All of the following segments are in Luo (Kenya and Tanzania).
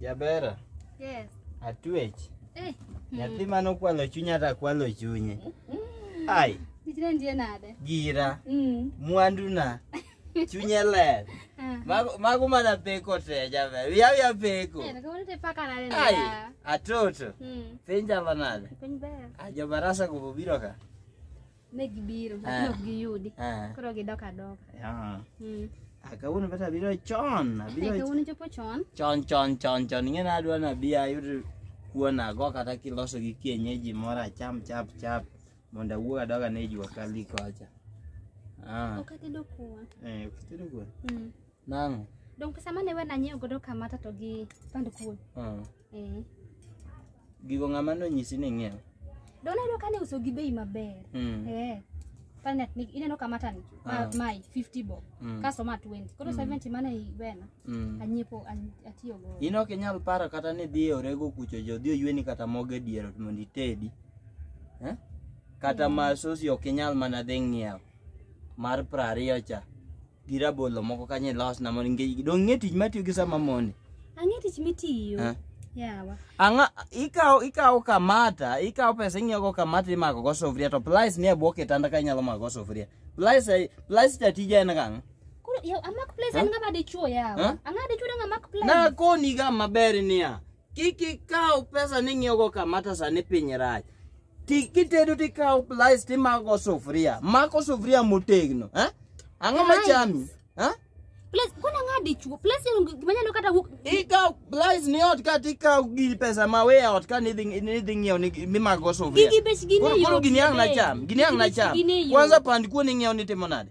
Jabera, Yes. atwech. Eh, Nyathi mane okwalo chunya hata kwalo chunye. Ai, tijna ndiye nade? gira, Mm. mwanduna, chunye ler. Ah. Mago mago mana peko te jaber. Wiya wiya peko. Eh, kama nite paka nade Ai, nda. atoto. Mm. Penja banade. Kwenye baya. Ajo barasa kububiro ka. Ne gibiro, Ah. lakini ok giyudi. Ah, Koro gidok adoka. ah. Mm. Ah, kawuono kata abiro chon Eh, abiro kawuono chopo chon. chon chon chon chon ing'e na adwa nabi ayud kuon ago kata kiloso gi kienyeji moro acham chap chap mondo awuog adoga ne jua kali kocha ah, Ok atedo kuon. eh, ok itedo kuon Mm. Nang'o? Dong pesa mane we nanyiew godo kamata to gi pand kuon. Ah. Eh. Gigo ng'ama nonyisi ni ng'iew? Dong nayudo ka ne uso gi bei maber. Mm. Eh. Pande ni ineno kamata ni ma, Ah. mai 50 bob. Mm. Kaso ma 20. Koro 70 mane iwena. Mm. Anyiepo an- atiyo go. In ok inyal paro kata ni dhi e orego kucho jo dhi oyweni kata mogo e dier ot mondo itedi. Eh? Kata ma sosi ok inyal mana dhi ng'iewo mar prariyo cha. gi rabolo moko kanyo ilosna mondo nge- dong' ng'e tich matiyo gi sama mondi Ang'e tich mitiyo. Eh. Yawa. ang'a ikawo ikawo kamata ikawo pesa ing'iyogo kamata imako go sufuria to plies nie bwo kitanda ka inyalo mako go sufuria plies ai- plies ta tija en kang'o Koro yawa amak place en ng'ama dichuo yawa. Eh? Ang'a dichuo dong' amak place. na koniga maber niya kik ikaw pesa ni ing'iyogo kamata sani piny rach Ti- kitedo tikawo plais timako sufuria mako sufuria motegno eh? ang'o Plais. machami eh? Place kuna ng'a dichuo. Place en gima nyalo kata wuok. ikawo plais ni ot ka tikawo gir pesa ma we ot ka nidhi nidhi ng'iewo ni- mimako sufuria Gigi bech gini Koro- koro yot gini ang' be. nacham gini ang' Gigi bech nacham gini yot. kwanza pand kuon ing'iewo ni timo nade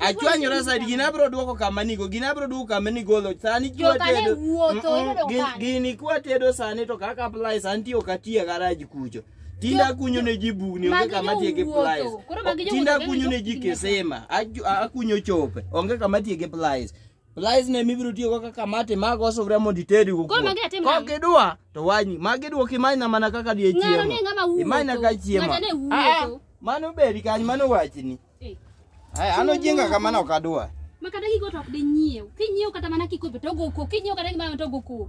Achwanyora side gini abro duoko kama nigo, gini abro duoko kama nigolo. Sani kwa Joka ne tedo. wuotho, Mm-mm, ineno gin- kaka. Gini kwa tedo sani to kaka apply sani tiyo katiya garaj kucho. Tinda Jo- kunyo ne ji bugni onge magi kama tiye gi jowuotho. plies. Koro magi jowuotho Tinda kendo kunyo ne ji jowuotho. kisima. Aju- a- Akunyo chope. Onge kama tiye gi plies. Lies ne mibiro tiyo go kaka mate mag osufria mondo itedi go. Koro magi atim nang'o? Kok idwa to wanyi. Magi idwoko imanyna mana kaka die chiemo. Ng'ano ne ng'ama wuotho. Imanyna ka chiemo. Ng'ata ne wuotho. Ah, ah, Mano beri kanyo mano wachni. Eh. Ai ano jinga kama no kadwa. Ma kata gigo to ok di nyiew. Kinyiew kata mana kikombe to go ko. Kinyiew kata gimana to go ko.